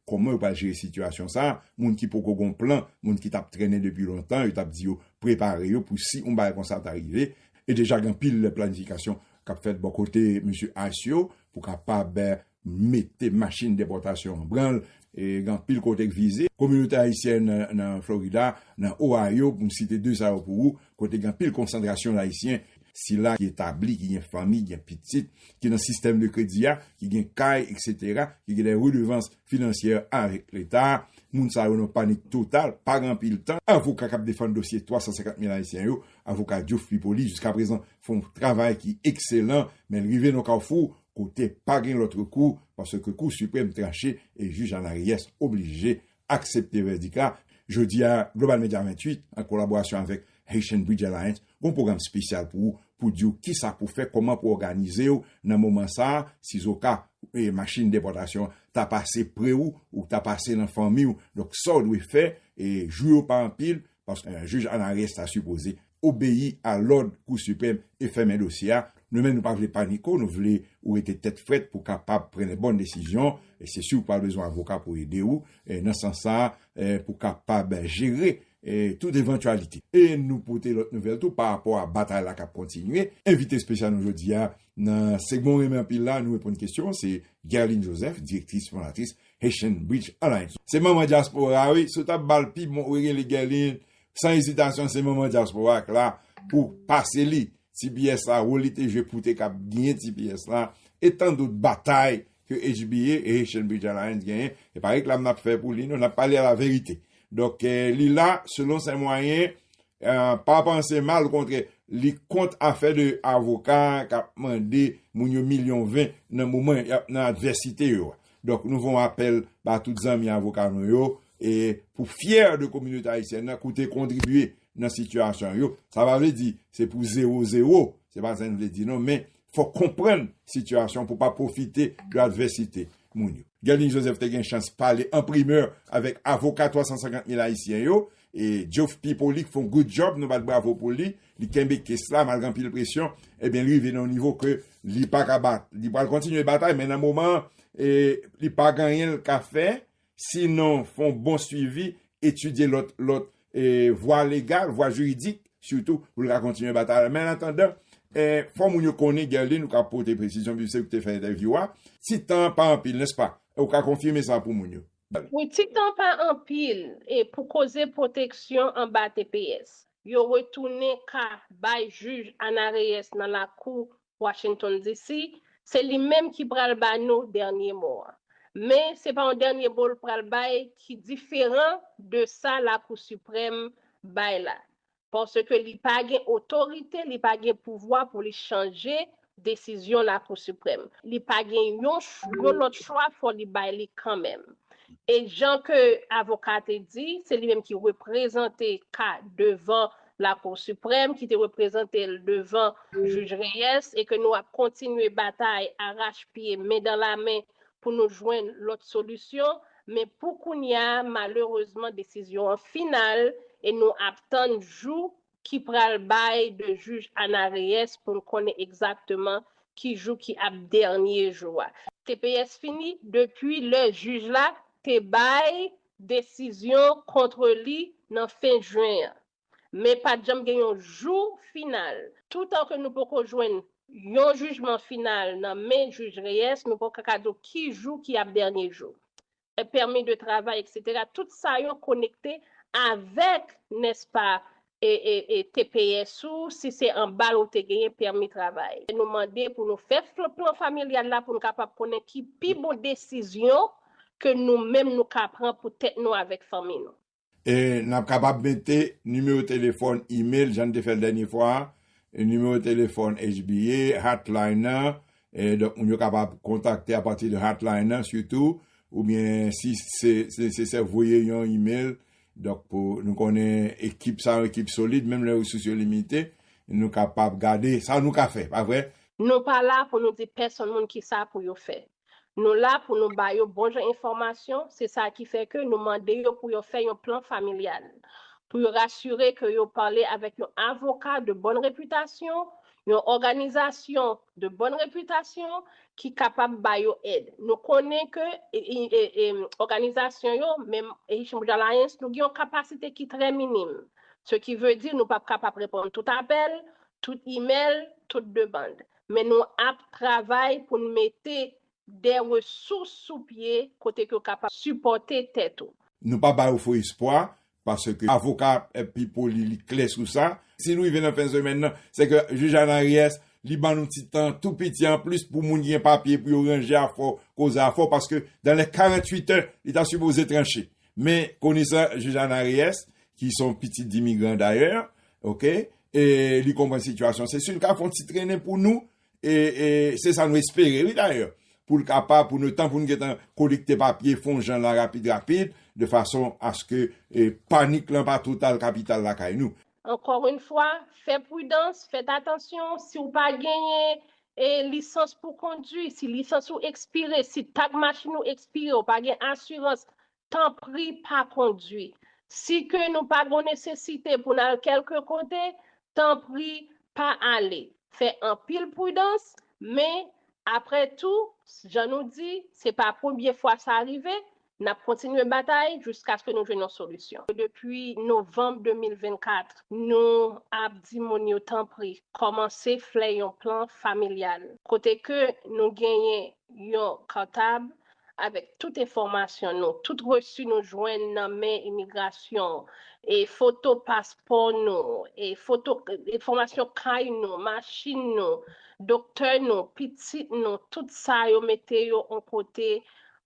Kòman yo pral jere sitiyasyon sa a? Moun ki poko gon plan, moun ki t ap trennen depi lontan, yo t ap di yo prepare yo pou si yon bagay konsa ta rive. E deja gen anpil planifikasyon k ap fèt bò kote mesye ice yo pou kapab mete machin depòtasyon an branle. Gen anpil kote k vize. Kominote ayisyèn nan Florida, nan Ohio, pou m site 2 sa yo pou ou, kote gen anpil konsantrasyon Ayisyen, sila ki etabli, ki gen fanmi, gen pitit, ki nan sistèm de kredi a, ki gen kay, eksetera, ki gen dè redevans finansyè avèk Leta a, moun sa yo nan panik total, pa gen anpil tan. Avoka k ap defann dosye 350 mil Ayisyen yo, avoka Diouf Pipoli, jiskaprezan fè yon travay ki ekselan, men l rive nan yon kawfou kote pa gen lòt rekou, paske Kou Siprèm tranche e jij Anna Reyes oblije aksepte vèdik la. Jodi a, Global Media 28, an kolaborasyon avèk Haitian Bridge Alliance, gen yon pwogram spesyal pou ou, pou di ou kisa pou fè, kòman pou òganize ou nan moman sa a, sizoka machin depòtasyon an ta pase pre ou, ou ta pase nan fanmi ou. Donk sa ou dwe fè, jou yo pa anpil, paske jij Anares ta sipoze obeyi a lòd Kou Sipèm e fèmen dosye a, nou menm nou pa vle panik o, nou vle ou rete tèt frèt pou kapab pran lè bòn desizyon, se si ou pral bezwen avoka pou ede ou nan sans sa pou kapab jere tout evantyalite. E nou pote lòt nouvèl tou pa rapò a batay la kap kontinye, envite espesyal nou jodi a Nan segman ou renmen anpil la, nou reponn kesyon an, se Guerline Joseph, direktris fondatris Haitian Bridge Alliance. Se manman dyaspora wi, si w ta bal pi bon wi rele Guerline, san ezitasyon se manman dyaspora k la pou pase li tps la, wol li te jwe pou te kab gnyn tps la, e tandot batay ke HBA, Haitian Bridge Alliance, genyen, e pa reklam n ap fè pou li non, n ap pale laverite. Donk, li la, selon sè mwayen, pa panse mal, okontrè, li kont afè de avoka k ap mande moun yo milyon ven nan moman y ap nan advèsite yo a. Donk, nou fè yon apèl ba tout zanmi avoka nou yo, e pou fyè de kominote ayisyèn nan koute kontribye nan sitiyasyon yo. Sa pa vle di se pou zewo zewo, se pa sa n vle di non, men Fòk konprann sitiyasyon pou pa pwofite de advèsite moun yo. Gelin Joseph te gen chans pale an primè avèk avoka 350 mil ayisyen yo e Geoff P. Polik fon good job, nou bat bravo pou li, li kenbe kes la malgre anpil presyon, ebyen li rive nan yon nivo ke li pa ka bat. Li pral kontinye batay men nan moman an li pa gen anyen li ka fè Si non, fè yon bon swivi, etidye lòt lòt vwa legal, vwa jiridik, sitou pou l ka kontinye batay la. Men an atandan, fò moun yo konnen, Guerline, ou ka pote presizyon pi se ou ki te fè entèvyou a, ti tan an pa anpil, nèspa? Ou ka konfime sa pou moun yo? Wi, ti tan an pa anpil pou koze pwoteksyon anba tps yo retounen ka bay jij Ana Reyes nan lakou Washington DC, se li menm ki pral ba nou dènye mo a. Men, se pa yon dènye mo l pral bay ki diferan de sa Lakou Siprèm bay la, paske li pa gen otorite, li pa gen pouvwa pou li chanje desizyon Lakou Siprèm. Li pa gen yon lòt chwa, fò li bay li kanmenm. E jan ke avoka a te di, se li menm ki reprezante ka devan Lakou Siprèm ki te reprezante l devan Jij Reyes e ke nou ap kontinye batay arach pye men dan la men pou nou jwenn lòt solisyon men pou kounya malerezman desizyon an final e nou ap tann jou ki pral bay de Jij Ana Reyes pou n konnen egzakteman ki jou ki ap dènye jou a. Tps fini depi lè jij la te bay desizyon kontre li nan fen jen an, men pa t janm gen yon jou final. Toutan ke nou poko jwenn yon jijman final nan men Jij Reyes, nou poko ka di w ki jou ki ap dènye jou. Pèmi de travay, eksetera, tout sa yo konekte avèk, nèspa, tps ou, si se anba l ou te genyen pèmi travay. Nou mande pou nou fè plan familyal la pou nou kapab konnen ki pi bon desizyon ke nou menm nou ka pran pou tèt nou avèk fanmi nou. E n ap kapab mete nimewo telefòn, imel, jan n te fè l dènye fwa a, nimewo telefòn HBA, hotline nan, donk moun yo kapab kontakte apati de hotline nan sitou, oubyen si se nesesè voye yon imel Donk pou nou konnen ekip sa yon ekip solid menm lè resous yo limite, nou kapab gade sa nou ka fè, pa vre? Nou pa la pou nou di pèsonn moun kisa pou yo fè. Nou la pou nou ba yo bon jan enfòmasyon, se sa ki fè ke nou mande yo pou yo fè yon plan familyal, pou yo rasire ke yo pale avèk yon avoka de bòn repitasyon, Yon òganizasyon de bòn repitasyon ki kapab ba yo èd. Nou konnen ke òganizasyon yo, menm Echange Alliance, nou gen yon kapasite ki trè minim. Se ki ve di nou pap kapab reponn tout apèl, tout imèl, tout demand. Men nou ap travay pou n mete de resous sou pye kote ke ou kapab sipòte tèt ou. Nou pa ba yo fo espwa, paske avoka a pi poli, li klè sou sa. Si nou rive nan fen semèn nan, se ke jij Ana Reyes, li ban nou ti tan tou piti an plis pou moun ki gen papye pou yo ranje afò, koze afò, paske dan lè 48 è, li ta sipoze tranche. Men, konesan jij Ana Reyes, ki se yon pitit dimigran dayè, ok, e li konprann sitiyasyon, se si li ka fè yon ti trennen pou nou, E se sa nou espere wi dayè pou l kapab pou nou tan pou nou gentan kolekte papye fon jan la rapid rapid de fason aske panik lan pa total kapital lakay nou. Ankor yn fwa, fè pridans, fèt atansyon, si w pa genyen lisans pou kondwi, si lisans ou ekspire, si tag machin ou ekspire, w pa gen asirans Tanpri pa kondwi. Si ke nou pa gon nesesite pou n al kèlke kote, tanpri pa ale. Fè anpil pridans, men, apre tou, jan nou di, se pa premye fwa sa rive, n ap kontinye batay jiskaske nou jwenn yon solisyon. Depi novanm 2024, nou ap di moun yo tanpri kòmanse fè yon plan familyal, kote ke nou genyen yon kòtab, avèk tout enfòmasyon nou, tout resu nou jwenn nan men imigrasyon, e foto paspò nou, e foto, enfòmasyon kay nou, machin nou, doktè nou, pitit nou, tout sa yo mete yo on kote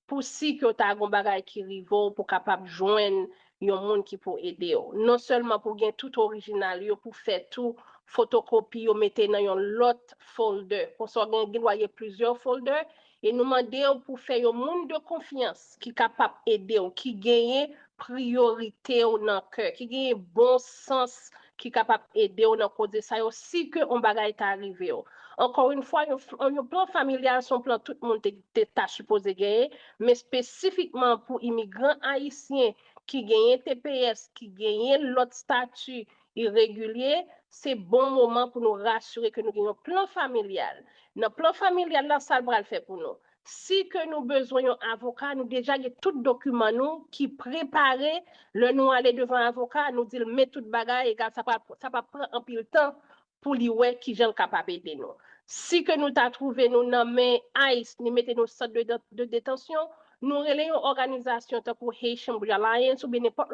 pou si ke w ta gen on bagay ki rive w pou kapab jwenn yon moun ki pou ede w. Non sèlman pou gen tout orijinal yo pou fè tou fotokopi yo mete nan yon lòt folder, konsa w gen gen dwa gen plizyè folder E nou mande w pou fè yon moun de konfyans ki kapap ede w, ki genyen priyorite w nan kè, ki genyen bon sans ki kapap ede w nan koze sa yo si ke yon bagay ta rive w. Ankò yon fwa, yon plan familyal se yon plan tout moun te ta sipoze genyen, men espesifikman pou imigran ayisyen ki genyen tps, ki genyen lòt stati, e regilye, se bon moman pou nou rasire ke nou gen yon plan familyal. Nan plan familyal la, sa l pral fè pou nou? Si ke nou bezwen yon avoka, nou deja gen tout dokiman nou ki prepare, lè nou ale devan avoka, nou di l men tout bagay, egal sa pa sa pa pran anpil tan pou li wè kijan l kapab ede nou. Si ke nou ta twouve nou nan men ice, li mete nou sant de detansyon, Nou rele yon òganizasyon tankou Haitian Bridge Alliance oubyen nenpòt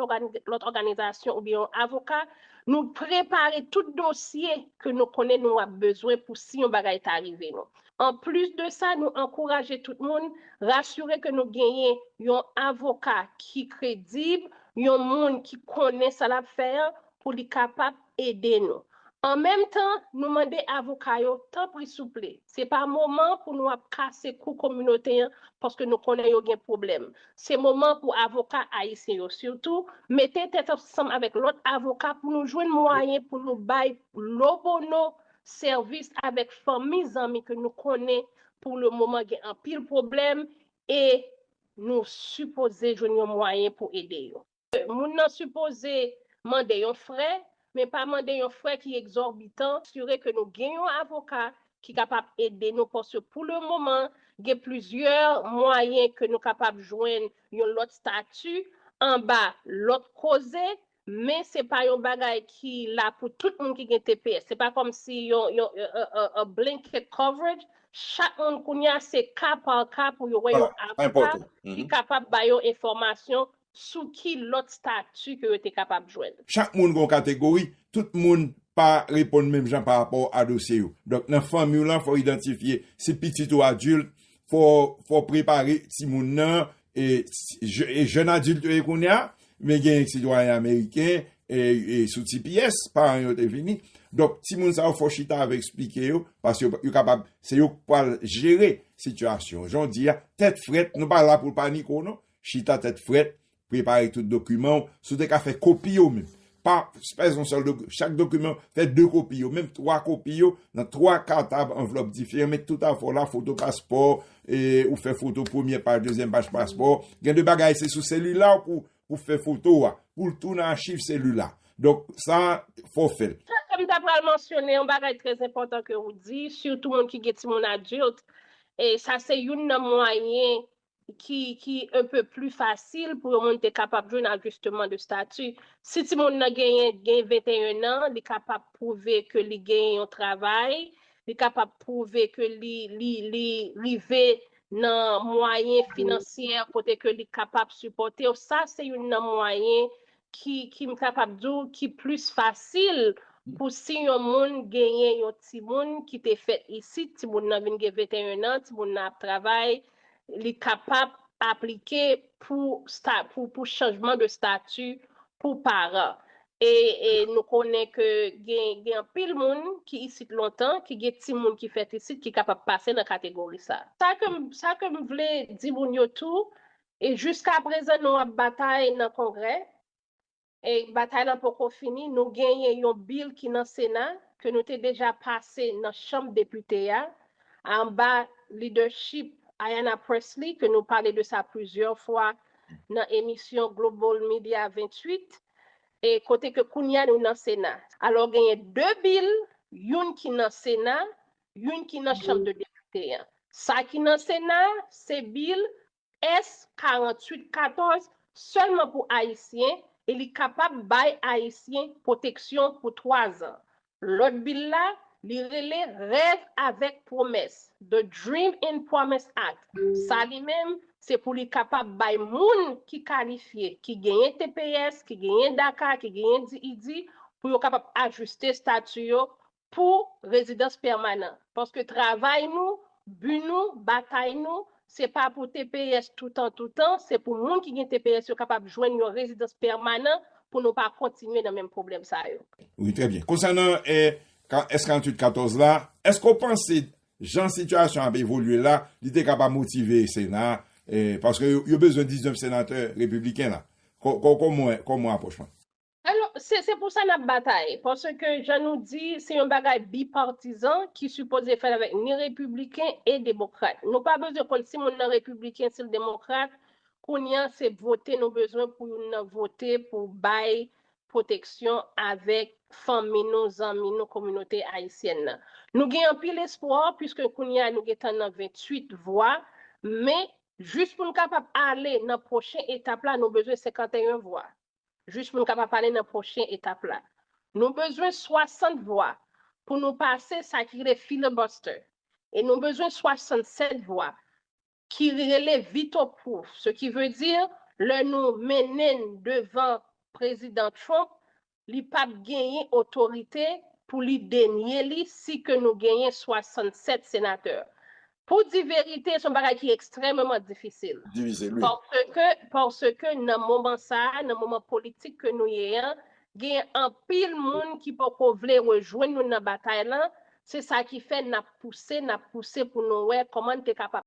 lòt òganizasyon oubyen yon avoka, nou prepare tout dosye ke nou konnen nou ap bezwen pou si yon bagay ta rive nou. Anplis de sa, nou ankouraje tout moun rasire ke nou genyen yon avoka ki kredib, yon moun ki konnen sa l ap fè an pou li kapab ede nou. An menm tan, nou mande avoka yo, tanpri souple, se pa moman pou nou ap kase kou kominote an paske nou konnen yo gen pwoblèm. Se moman pou avoka ayisyen yo sitou mete tèt ansanm avèk lòt avoka pou nou jwenn mwayen pou nou bay lo bono sèvis avèk fanmi zanmi ke nou konnen pou le moman gen anpil pwoblèm e nou sipoze jwenn yon mwayen pou ede yo. Moun nan sipoze mande yon frè, men pa mande yon frè ki egzòbitan, asire ke nou gen yon avoka ki kapab ede nou paske pou le moman gen plizyè mwayen ke nou kapab jwenn yon lòt stati anba lòt koze, men se pa yon bagay ki la pou tout moun ki gen tps, se pa kòm si yon blanket coverage, chak moun kounye a se ka pa ka pou yo wè yon avoka ki kapab ba yo enfòmasyon Sou ki lòt stati ke yo te kapab jwenn? Chak moun gen yon kategori, tout moun pa reponn menm jan pa rapò a dosye yo. Donk nan fanmi w lan fò w idantifye si pitit ou adilt, fò w prepare timoun nan, e jèn adilt yo ye kounye a, men gen sitwayen ameriken sou tps, paran yo te vini. Donk timoun sa yo fò w chita avèk esplike yo, paske yo kapab, se yo k pral jere sitiyasyon. Jan w di a, tèt frèt, nou pa la pou paniko non. Chita tèt frèt, prepare tout dokiman ou, si ou te ka fè kopi yo menm, pa fè yon sèl dokiman, chak dokiman, fè 2 kopi yo, menm 3 kopi yo, nan 3 katab anvlòp diferan, met tout afè w la, foto paspò, ou fè foto premyè paj, dezyèm paj paspò, gen de bagay se sou selila w pou fè foto a, pou l tou nan achiv selila, donk sa fò w fè l. Sa ke m ta pral mansyone, yon bagay trè enpòtan ke ou di, sitou moun ki gen timoun adilt, sa se youn nan mwayen ki un peu plus facile pou yon moun te kapab jwenn ajustement de statut. Si timoun nan genyen gen 21 an, li kapab pwouve ke li genyen yon travay, li kapab pwouve ke li rive nan mwayen finansyè kote ke li kapab sipòte ou, sa se youn nan mwayen ki m kapab di w ki plis fasil pou si yon moun genyen yon timoun ki te fèt isit, timoun nan vin gen 21 an, timoun nan ap travay, li kapab aplike pou chanjman de stati pou paran. E nou konnen ke gen anpil moun ki isit lontan, ki gen timoun ki fèt isit ki kapab pase nan kategori sa. Sa ke m vle di moun yo tou, E jiska prezan nou ap batay nan kongrè, e batay lan poko fini, nou genyen yon bil ki nan sena ke nou te deja pase nan chanm depite a, anba lidèchip Ayanna Pressley ke nou pale de sa plizyè fwa nan emisyon Global Media 28, e kote ke kounye a nou nan sena. Alò genyen 2 bil, youn ki nan sena, youn ki nan chanm de depite an. Sa ki nan sena a, se bil S. 48 14 sèlman pou Ayisyen e li kapab bay Ayisyen pwoteksyon pou twa zan. Lòt bil la, li rele Rèv avèk Pwomès, The Dream and Promise Act, sa li menm, se pou li kapab bay moun ki kalifye, ki genyen tps, ki genyen daca, ki genyen DID, pou yo kapab ajiste stati yo pou rezidans pèmanan. Paske travay nou, bi nou, batay nou, se pa pou tps toutan toutan, se pou moun ki gen tps yo kapab jwenn yon rezidans pèmanan pou nou pa kontinye nan menm pwoblèm sa yo. Wi, trè byen. Konsènan S 48 14 la, èske ou panse jan sitiyasyon an ap evolye la, li te ka pa motive Sena a, paske yo bezwen 19 senatè repibliken la? Kòman ou apwoch mwen? Alò, se se pou sa nap batay, paske jan nou di, se yon bagay bipartizan ki sipoze fèt avèk ni repibliken e demokrat. Nou pa bezwen konn si moun nan repibliken, si l demokrat, kounye a se vote nou bezwen pou youn nan vote pou bay pwoteksyon avèk fanmi nou, zanmi nou, kominote ayisyèn nan. Nou gen anpil espwa, puiske kounye a nou gentan nan 28 vwa, men jis pou n kapab ale nan pwochen etap la nou bezwen 51 vwa. Jis pou n kapab pale nan pwochen etap la, nou bezwen 60 vwa pou nou pase sa ki rele filibuster e nou bezwen 67 vwa ki rele veto proof, se ki vle di lè nou mennen l devan Prezidan Trump, li p ap genyen otorite pou li denye li si ke nou genyen 67 senatè. Pou di verite, son bagay ki ekstrèmeman difisil. Divize l wi. Paske, paske nan moman sa a, nan moman politik ke nou ye an, genyen anpil moun ki poko vle rejwenn nou nan batay lan, se sa ki fè n ap pouse, n ap pouse pou nou wè kòman n te kapab.